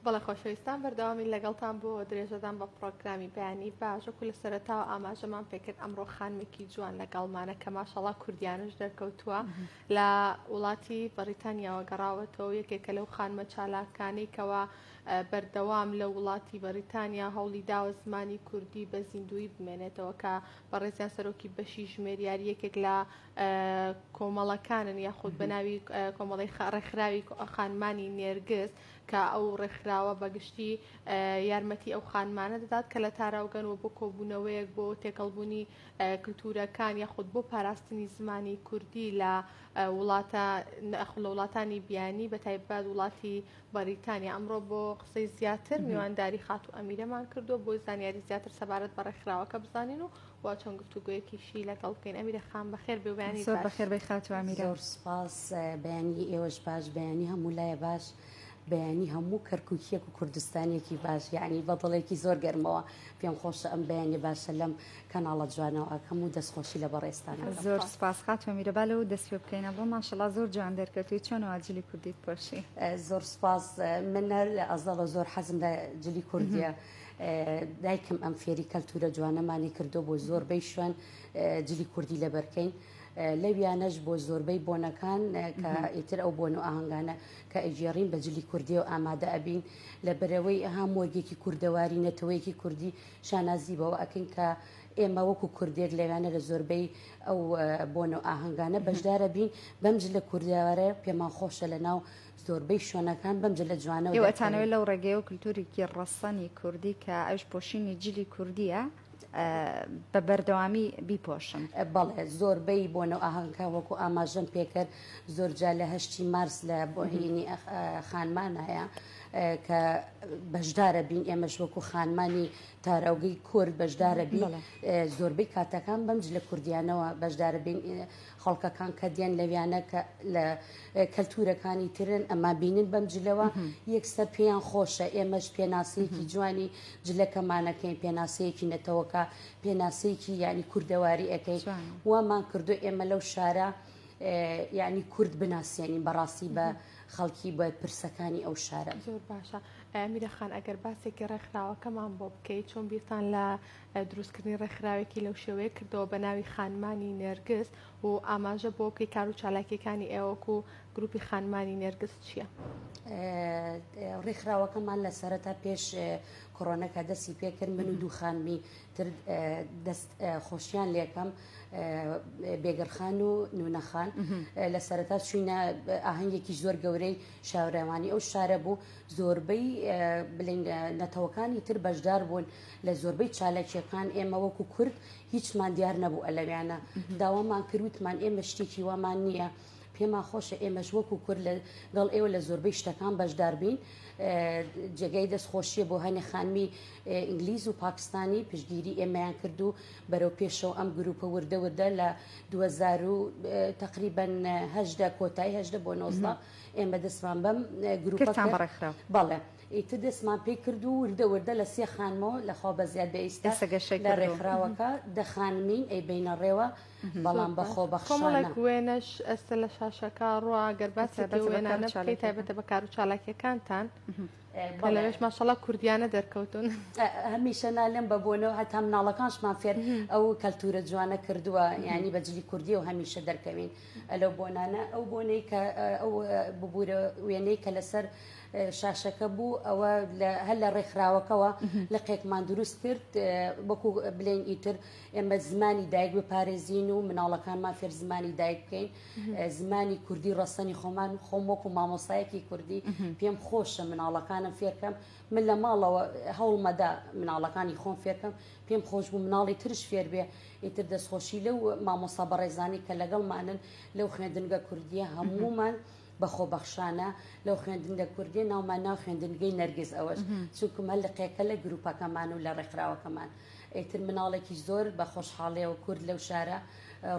بەڵێ خۆشەویستان بەردەوامی لەگەڵتان بۆ درێژەدان بە پڕۆگرامی بەیانی باشەکو لە سەرەتا و ئاماژەمان پێکرد ئەمڕۆ خانمێکی جوان لەگەڵمانە کە ماشەڵا کوردیانش دەرکەوتووە لە وڵاتی بەریتانیاوە گەڕاوەتەوە یەکێکە لەو خانمە چالاکانەی کەەوە بەردەوام لە وڵاتی بەریتانیا هەوڵی داوە زمانی کوردی بە زیندوی بمێنێتەوە کە بەڕێزیان سەرۆکی بەشی ژمێریاری یەکێک لە کۆمەڵەکانن یاخود بەناوی کۆمەڵی ڕێکخراوی خانمانی نێرگز کە ئەو ڕێکخراوە بەگشتی یارمەتی ئەو خانمانە دەدات کە لە تاراوگەن و بۆ کۆبوونەوەیەک بۆ تێکەڵبوونی کللتورەکان یاخود بۆ پاراستنی زمانی کوردی لە وڵاتە نەخل لە وڵاتانی بیانی بە تایبەت وڵاتی بەریتانیا ئەمڕۆ بۆ قسەی زیاتر میوانداری خاتو ئەمیرەمان کردو بۆ زانیاری زیاتر سەبارەت بە ڕێکخراوەکە بزانین و وا چۆن گفتوگۆیەکیشی لەگەڵ بکەین ئەمیرە خان بەخێر بێ بەیانی زۆر بەخێر بێ خاتوو ئەمیرە زۆر سپاس بەیانی ئێوەش باش بەیانی هەموو لایە باش بەیانی هەموو کەرکوکیەک و کوردستانێکی باش یعنی بە دڵێکی زۆر گەرمەوە پێم خۆشە ئەم بەیانی باشە لەم کەناڵە جوانەوە ئەکەم و دەستخۆشی لە بەڕێستان زۆر سپاس خاتوو ئەمیرە با لەوە دەست پێ بکەینە بۆ ماشەڵا زۆر جوان دەرکەوتوی چۆنەوە جلی کوردیت پۆشی زۆر سپاس من لە ئەزەڵە زۆر حەزم لە جلی کوردیە دایکم ئەم فێری کەلتورە جوانەمانی کردو بۆ زۆر بەی شوێن جلی کوردی لەبەرکەین لەویانەش بۆ زۆربەی بۆنەکان کە ئیتر ئەو بۆن و ئاهنگانە کە ئەگێڕین بە جلی کوردی و ئامادە ئەبین لە بەرەوەی ئەها مۆرگێکی کوردەواری نەتەوەیەکی کوردی شانازی بەوە ئەکەین کە ئێمە وەکو کوردێک لەوانە لە زۆربەی ئەو بۆن و ئاهنگانە بەشدارە بین بەمج لە کوردیاوارە پێمان خۆشە لە ناو زۆربەی شوێنەکان بەم جلە جوانە و دەکەوێت. ئێوە ئەتانەوێت لەو ڕێگەیە و کلتوورێکی ڕەسەنی کوردی کە ئەویش پۆشینی جلی کوردییە بە بەردەوامی بیپۆشن؟ بەڵێ زۆربەی بۆنە و ئاهەنگەکان وەکو ئاماژەم پێکرد زۆرجا لە هەشتی مارس لە بۆهینی خانمان هەیە کە بەشدارە بین ئێمەش وەکو خانمانی تاراوگەی کورد بەشدارە بین زۆربەی کاتەکان بەم جلە کوردیانەوە بەشدارە بین خەڵکەکان کە دێن لەویانە کە لە کەلتورەکانی ترن ئەما بینن بەم جلەوە یەکسەر پێیان خۆشە ئێمەش پێناسەیەکی جوانی جلەکەمانەکەین پێناسەیەکی نەتەوەکە پێناسەیەکی یعنی کوردەواری ئەەکەی وامان کردو ئێمە لەو شارە یعنی کورد بناسیێنین بەڕاستی بە خەڵکی بە پرسەکانی ئەو شارە زۆر باشە میرەخان ئەگەر باسێکی ڕێکخراوەکەمان بۆ بکەیت چۆن بیرتان لە دروستکردنی ڕێکخراوێکی لەو شێوەیە کردەوە بە ناوی خانمانی نێرگز و ئاماژە بۆ بکەی کار و چالاکیەکانی ئێوەک و گروپی خانمانی نێرگز چییە؟ ڕیخراوەکەمان لە سەرەتا پێش کۆرۆنەکە دەستی پێکرد من و دوو خانمی تر دەست خۆشیان لەکەم بێگەرخان و نونەخان لە سەرەتا چوینە ئاهنگێکی زۆر گەورەی شاورەوانی ئەو شارە بوو زۆربەی بلنگ نەتەوەکانی تر بەشدار بوون لە زۆربەی چالاکییەکان ئێمە وەکو کورد هیچمان دیار نەبوو ئەلەویانە داوامان کردوتمان ئێمە شتێکی وامان نییە. پێمان خۆشە ئێمەش وەکو کورد لەگەڵ ئێوە لە زۆربەی شتەکان بەشدار بین جێگای دەست خۆشیە بۆ هەنێ خانمی ئینگلیز و پاکستانی پشگیری ئێمەیان کرد و بەرەو پێشەوە ئەم گروپە وردە وردە لە 2000 تقریبن هەشدە کۆتایی هەشدە بۆ نۆزدا ئێمە دەستمان بەم گروپەکان بەڕێخرا بەڵێ. ئیتر دەستمان پێ کرد و وردە وردە لە سێ خانمەوە لە خوا بەزیاد بێ ئیستا ئێستا گەشەی لە کردووە. ڕێکخراوەکە دە خانمین ئەی بەینە ڕێوە بەڵام بە خۆ بەخشانە. کۆمەڵێک وێنەش ئەستە لە شاشەکە ڕوا گەر باسی تایبەتە پێ بە وێنانە کارو بکەی چالاکیەکان. تایبەتە بە کارو چالاکیەکانتان کە بەڵێ. لەوێش ماشەڵا کوردیانە دەرکەوتون. هەمیشە نالێم بە بۆنەوە هەتا مناڵەکانشمان فێر ئەو کەلتورە جوانە کردوە یانی بە جلی کوردیەوە هەمیشە دەرکەوین لەو بۆنانە ئەو بۆنەی کە ئەو ببورە وێنەی کە لەسەر شاشەکە بوو ئەوە هەر لە ڕێکخراوەکەەوە لقێکمان دروست کرد وەکو بلێن ئیتر ئێمە زمانی دایک بپارێزین و مناڵەکانمان فێر زمانی دایک بکەین زمانی کوردی ڕەسەنی خۆمان خۆم وەکو مامۆسایەکی کوردی پێم خۆشە مناڵەکانم فێرکەم من لە ماڵەوە هەوڵمەدا مناڵەکانی خۆم فێرکەم پێم خۆش بوو مناڵی ترش فێر بێ ئیتر دەستخۆشی لەو مامۆسا بەڕێزانی کە لەگەڵمانن لەو خوێندنگە کوردیە هەمومان بە خۆ بەخشانە لەو خوێندنگە کوردیە ناومان ناو خوێندنگەی نەرگز ئەوەش چونکم هەر لە قێکە لە گروپەکەمان و لە ڕێکخراوەکەمان ئیتر مناڵێکی زۆر بە خۆشحاڵەوە کورد لەو شارە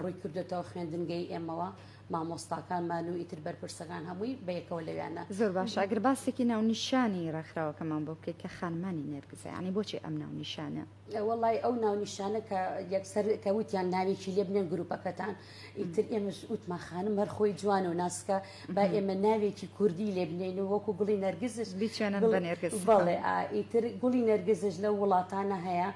ڕووی کردێتەوە خوێندنگەی ئێمەوە مامۆستاکانمان و ئیتر بەرپرسەکان هەمووی بەیەکەوە لەویانە زۆر باش ئەگەر باسێکی ناونیشانی ڕێکخراوەکەمان بۆ بکەیت کە خانمانی نێرگزە ینی بۆچی ئەم ناونیشانە؟ وەڵای ئەو ناونیشانە کە یەکسەر کە وتیان ناوێکی لێ بنێن گروپەکەتان ئیتر ئێمەش وتمان خانم هەر خۆی جوان و ناسکە با ئێمە ناوێکی کوردی لێ بنێن و وەکو گوڵی نەرگزش بچێنن بە نێرگز بەڵێ ئیتر گوڵی نەرگزش لە وڵاتانە هەیە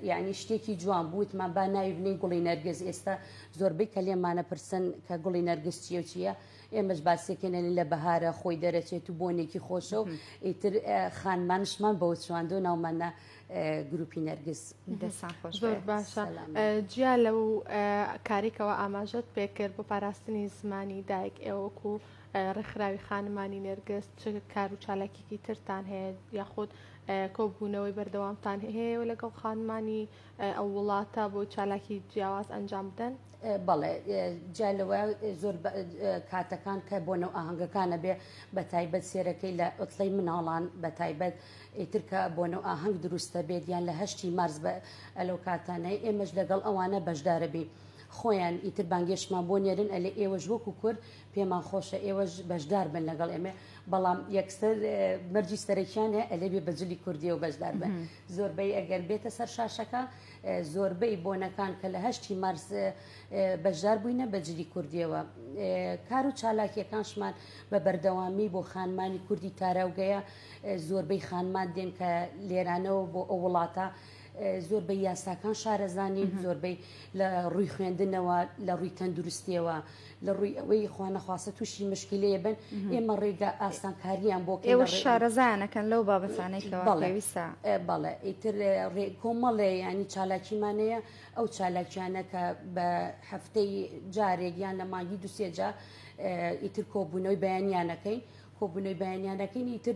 یعنی شتێکی جوان بوتمان با ناوی بنێن گوڵی نەرگز ئێستا زۆربەی کە لێمانە پرسن کە گوڵی نەرگز چیە چیە؟ ئێمەش باسیەکەێنێ لە بەهارە خۆی دەرەچێت و بۆنێکی خۆشە و ئیتر خانمانشمان بەوە چواندۆ ناومانە گروپی نەرگز زۆر باشە جیا لە و کارێکەوە ئاماژەت پێکرد بۆ پاراستنی زمانی دایک ئێوەک و ڕێکخراوی خانمانی نێرگست چ کار و چالاکیکی ترتان هەیە یاخود کۆبوونەوەی بەردەوامتان هەیە و لەگەڵ خانمانی ئەو وڵاتە بۆ چالاکی جیاواز ئەنجام بدەن؟ بەڵێ جیا لەوە زۆر کاتەکان کە بۆ نەو ئاهەنگەکانە بێ بە تایبەت سێرەکەی لە ئۆتڵی مناڵان بە تایبەت ئیترکە بۆ نەو ئاهەنگ دروستە بێت یان لە هەشتی مارز بە ئەلو کاتانەی ئێمەش لەگەڵ ئەوانە بەشدارەبی. خۆیان ئیتر بانگێشمان بۆ نێرن ئەلێ ئێوەش وەکو کورد پێمان خۆشە ئێوەش بەشدار بن لەگەڵ ئێمە بەڵام یەکسەر مەرجی سەرەکیان هەیە ئەلێ بێ بەجلی کوردیەوە بەشدار بن. زۆربەی ئەگەر بێتە سەر شاشەکە زۆربەی بۆنەکان کە لە هەشتی مارس بەشدار بووینە بە جلی کوردیەوە کار و چالاکیەکانشمان بە بەردەوامی بۆ خانمانی کوردی تاراوگەیە زۆربەی خانمان دێن کە لێرانەوە بۆ ئەو وڵاتە زۆربەی یاساکان شارەزانین زۆربەی لە ڕووی خوێندنەوە لە ڕووی تەندروستیەوە لە ڕووی ئەوەی خوانەخواستە تووشی مشکلەیە بن ئێمە ڕێگە ئاسانکاریان بۆ ئێوە شارەزانەکەن لەو بابەتانێکەوەویسا بەڵێ ئیتر کۆمەڵێ ینی چالاکیمانەیە ئەو چالاکیانە کە بە هەفتەی جارێک یان لە مانگی دوسێجا ئیتر کۆبوونەوەی بەیانیانەکەین کۆبونەوەی بەیانیان دەکەین ئیتر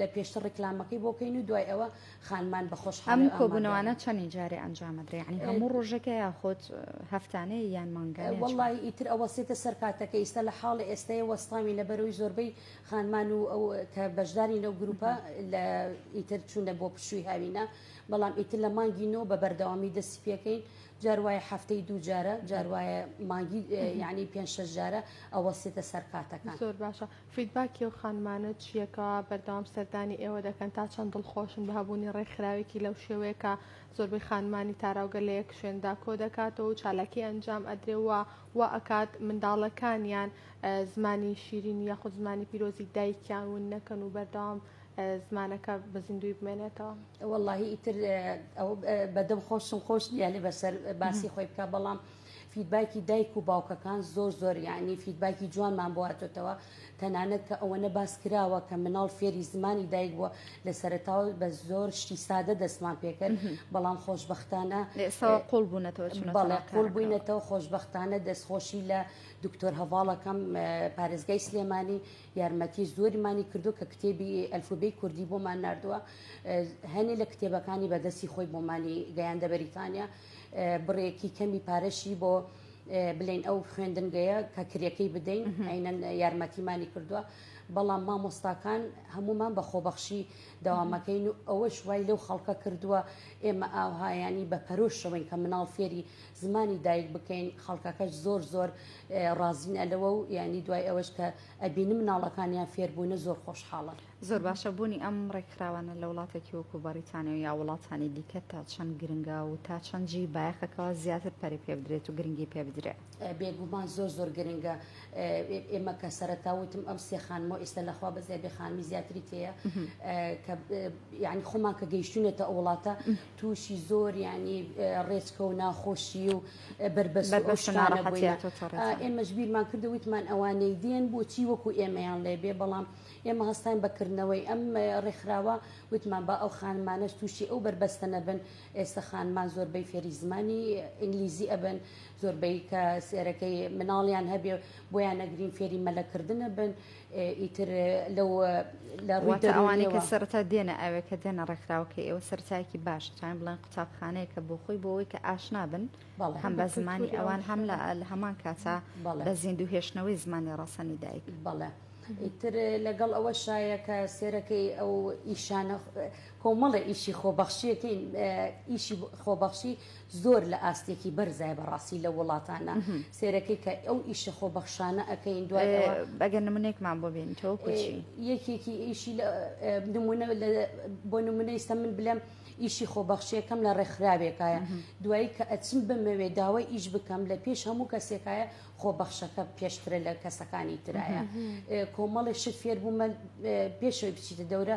لە پێشتر ڕیکلامەکەی بۆ کەین و دوای ئەوە خانمان بە خۆشحاڵی ئەم ئامادەن. کۆبوونەوانە چەندین جارێ ئەنجام ئەدرێ یانی هەموو ڕۆژەکە یاخود هەفتانەیە یان مانگانەیە چۆنە؟ وەڵڵاهی ئیتر ئەوەستێتە سەر کاتەکە ئیستا لە حاڵی ئێستەیە وەستاوین لەبەر ئەوی زۆربەی خانمان و ئەو کە بەشدارین لەو گرووپە لە ئیتر چوونە بۆ پشووی هاوینە بەڵام ئیتر لە مانگی نۆ بە بەردەوامی دەستی پێکەین جار وایە هەفتەی دوو جارە جار وایە مانگی یعنی پێ شش جارە ئەوەسیتە سەر کاتەکان زۆر باشە فیدباکی و خانمانە چیەکە بەردەوام سەردانی ئێوە دەکەن تا چەند دڵخۆشن بە هەبوونی ڕێکخراوێکی لەو شێوەیەکە زۆربەی خانمانی تاراوگە لە یەک شوێندا کۆ دەکاتەوە و چالاکی ئەنجام ئەدرێەوە و ئەکات منداڵەکانیان زمانی شیرین یاخود زمانی پیرۆزی دایکیان ون نەکەن و بەردەوام زمانەکە بە زیندووی بمێنێتەوە. وەڵاهی ئیتر ئەو بەدەم خۆشم خۆش نییە لێ بەسەر باسی خۆی بکە بەڵام فیدباکی دایک و باوکەکان زۆر زۆر یعنی فیدباکی جوانمان بواتێتەوە تەنانەت کە ئەوەنە باس کراوە کە مناڵ فێری زمانی دایک بووە لە سەرتاوە بە زۆر شتی سادە دەستمان پێکرد بەڵام خۆشببختانە قوڵ بوونەتەوە بەڵێ قوڵ بووینەتەوە خۆشببختانە دەستخۆشی لە دکتۆر هەواڵەکەم پارێزگای سلێمانی یارمەتی زۆریمانی کردووە کە کتێبی ئەلفوبێی کوردی بۆمان نردووە هەنێ لە کتێبەکانی بەدەستی خۆی بۆمانی گەیاندە بەریتانیا بڕێکی کەمی پارەشی بۆ بلین ئەو خوێندنگەیە کە کرێەکەی بدەین عینەن یارمەتیمانی کردووە بەڵام مامۆستاکان هەمومان بە خۆبەخشی داوامەکەین و ئەوەش وای لەو خەڵکە کردووە ئێمە ئاوهایانی بە پەرۆشەوەین کە مناڵ فێری زمانی دایک بکەین خەڵکەکەش زۆر زۆر ڕازین ئەلەوە و یعنی دوای ئەوەش کە ئەبینم مناڵەکانیان فێربوونە زۆر خۆشحاڵە. زۆر باشە بوونی ئەم ڕێکخراوانە لە وڵاتێکی وەکو بەڕیتانیا و یا وڵاتانی دیکە تا چەند گرنگە و تا چەند جێی بایەخەکەوە زیاتر پەرە پێ بدرێت و گرنگی پێ بدرێ؟ بێگومان زۆر زۆر گرنگە ئێمە کە سەرەتا وتم ئەم سێ خانمەوە ئێستا لە خوا بەزێ بێ خانمی زیاتری تێیە کە یعنی خۆمان کە گەیشتونێتە ئەو وڵاتە توشی زۆر یانی ڕێچکە و ناخۆشی و بەربەست و ئەو شتانە بووین ئێمەش بیرمان کردو وتمان ئەوانەی دێن بۆچی وەکو ئێمەیان لێ بێ بەڵام ئێمە هەستاین بەکردنەوەی ئەم ڕێکخراوە وتمان با ئەو خانمانەش تووشی ئەو بەربەستە نەبن ئێستا خانمان زۆربەی فێری زمانی ئینگلیزی ئەبن زۆربەی کە سێرەکەی مناڵیان هەبێ بۆیان نەگرین فێری مەلەکردنە بن ئیتر لەو لە ڕووی واتە ئەوانەی کە دەروونیەوە سەرەتا دێنە ئاوێ کە دێنە ڕێکخراوەکەی ئێوە سەرەتایەکی باشە تان بڵێن قوتابخانەیەکە بۆ خۆی بۆ ئەوەی کە ئاشنا بن بەڵێ. هەم بە زمانی کولتووری ئەوان ئەو هەم لە شوێنە. لە هەمان کاتا بەڵێ. بە زیندوو هێشتنەوەی زمانی ڕەسەنی دایک بەڵێ ئیتر لەگەڵ ئەوە شایە کە سێرەکەی ئەو ئیشانە کۆمەڵێ ئیشی خۆبەخشیەکەی ئیشی خۆبەخشی زۆر لە ئاستێکی بەرزای بەڕاستی لە وڵاتانە سێرەکەی کە ئەو ئیشە خۆ بەخشانە ئەەکەین دوای بەگە نمونێکمان بۆ بێن تۆ کوچی یەکێکی ئیشی نمونە بۆ نمونە ئیستا من بلێم ئیشی خۆبەخشیەکەم لە ڕێکخراوێکایە دوایی کە ئەچم بمەوێ داوای ئیش بکەم لە پێش هەموو کەسێکایە خۆبەخشەکە پێشترە لە کەسەکانی ترایە کۆمەڵی شت فێر بوومە پێشەوەی بچیتە دەورە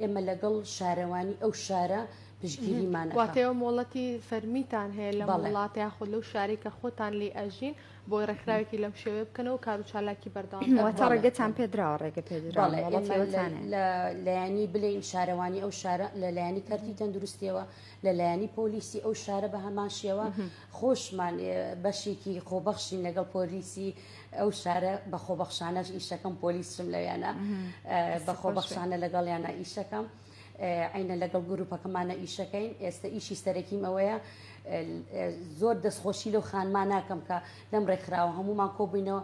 ئێمە لەگەڵ شارەوانی ئەو شارە پشتگیریمان ئەکا. واتە ئێوە مۆڵەتی فەرمیتان هەیە لەم بەڵێ. وڵات یاخود لەو شارەی کە خۆتان لێی ئەژین بۆی ڕێکخراوێکی لەم شێوەیە بکەنەوە و کار و چالاکی بەردەوام بکەن. واتە بەڵێ. ڕێگەتان پێدراوە ڕێگە پێدراوە بەڵێ مۆڵەتی ئێمە لە ئێوەتان هەیە. لە لایەنی بلێین شارەوانی ئەو شارە لە لایەنی کەرتی تەندروستیەوە لە لایەنی پۆلیسی ئەو شارە بە هەمان شێوە خۆشمان بەشێکی خۆبەخشین لەگەڵ پۆلیسی ئەو شارە بە خۆبەخشانەش ئیشەکەم پۆلیسشم لەویانە بە خۆبەخشانە لەگەڵیانە ئیشەکەم. عینە لەگەڵ گروپەکەمانە ئیشەکەین ئێستا ئیشی سەرەکیم ئەوەیە زۆر دەستخۆشی لەو خانمان ناکەم کە لەم ڕێکخراوە هەمومان کۆبووینەوە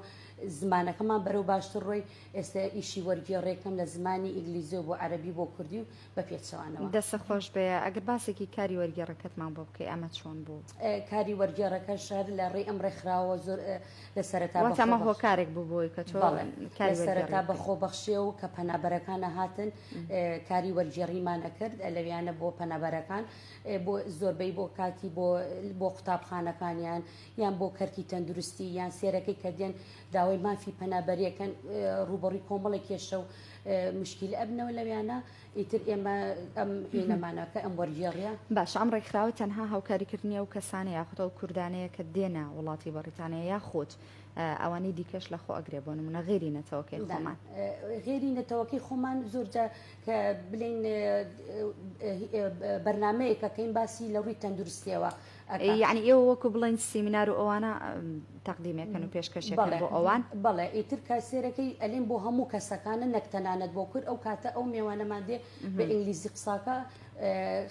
زمانەکەمان بەرەو باشتر ڕۆی ئێستا ئیشی وەرگێڕێکم لە زمانی ئینگلیزیۆ بۆ عەربی بۆ کوردی و بە پێچەوانەوە. دەستت خۆش بێ ئەگەر باسێکی کاری وەرگێڕەکەتمان بۆ بکەی ئەمە چۆن بوو؟ کاری وەرگێڕەکەش هەر لە ڕێی ئەم ڕێکخراوە زۆر لە سەرەتا بەخۆ واتە ئەمە هۆکارێک بوو بۆی کە تۆ بەڵێ کاری لە سەرەتا وەرگێڕی بکەی. بەخۆ بەخشێ و کە پەنابەرەکانە هاتن ئێ، کاری وەرگێڕیمان ئەکرد ئە، لەویانە بۆ پەنابەرەکان ئێ، بۆ زۆربەی بۆ کاکی بۆ بۆ قوتابخانەکانیان یان بۆ کەرتی تەندروستی یان سێرەکەی کە دێن داوای مافی پەنابەری ئەکەن ئێ، ڕووبەڕووی کۆمەڵێ کێشە و مشکیل ئەبنەوە لەویانە ئیتر ئێمە ئەم هێنەمانەکە ئەم وەرگێڕە باش ئەم ڕێکخراوە تەنها هاوکاریکردنی ئەو کەسانە یاخود ئەو کوردانەیە کە دێنە وڵاتی بەڕیتانیا یاخود ئەوانی دیکەش لە خۆ ئەگرێ بۆ نمونە غێری نەتەوەکەی خۆمان غێری نەتەوەکەی خۆمان زۆرجە کە بلین بەرنمەیەکەکەین باسی لە ڕووی تەندروستیەوە یەعنی ئێوە وەکو بڵێن سیمینار و ئەوانە تەقدیمێکەن و پێشکەشێکەن بۆ ئەوان بەڵێ ئیتر کاسێرەکەی ئەلێن بۆ هەموو کەسەکانە نەک تەنانەت بۆ کورد ئەو کاتە ئەو مێوانەمان دێ بە ئینگلیزی قساکە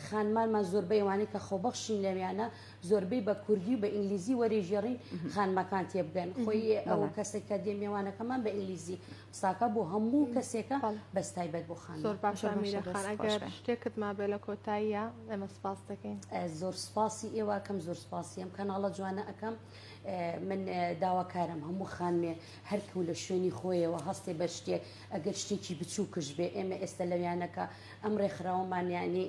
خانمانمان زۆربەی ئەوانەی کە خۆبەخشین لەویانە زۆربەی بە کوردی و بە ئینگلیزی وەرێژێڕین خانمەکان تێبگەن خۆی ئەو کەسێک کە دێ مێوانەکەمان بە ئینگلیزی قساکە بۆ هەموو کەسێکە بەس تایبەت بۆ خان زۆر باشە میرە خان ئەگەر شتێکت مابێ لە کۆتاییە ئەمە سپاس دەکەین زۆر سپاسی ئێوە کەم زۆر سپاسی ئەم کەناڵە جوانە ئەەکەم من داواکارم هەموو خانمێ هەرکەو لە شوێنی خۆیەوە هەستێ بە شتێک ئەگەر شتێکی بچوو کش بێ ئێمە ئێستا لەویانەکە ئەم ڕێکخراوەمانیانی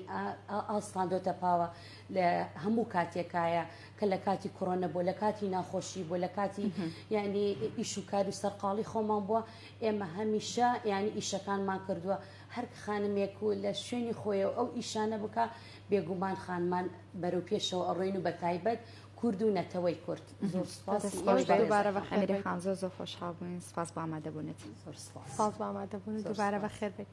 ئاستان دۆتە پاوە لە هەموو کاتێکایە کە لە کاتی کۆرۆنە بۆ لە کاتی ناخۆشی بۆ لە کاتی ینی ئیش و کار و سەرقاڵی خۆمان بووە ئێمە هەمیشە ینی ئیشەکانمان کردووە هەر خانمێک و لە شوێنی خۆی و ئەو ئیشانە بکە بێگومان خانمان بەرەو پێشەوە ئەڕۆین و بە تایبەت کورد و نەتەوەی کورد زۆر سپاس دوبارە بە خێری خان زۆر زۆر خۆشحاڵ بووین سپاس بامادەبوونێت زۆر سپاس بامادەبوون دوبارە بە خێر بێت.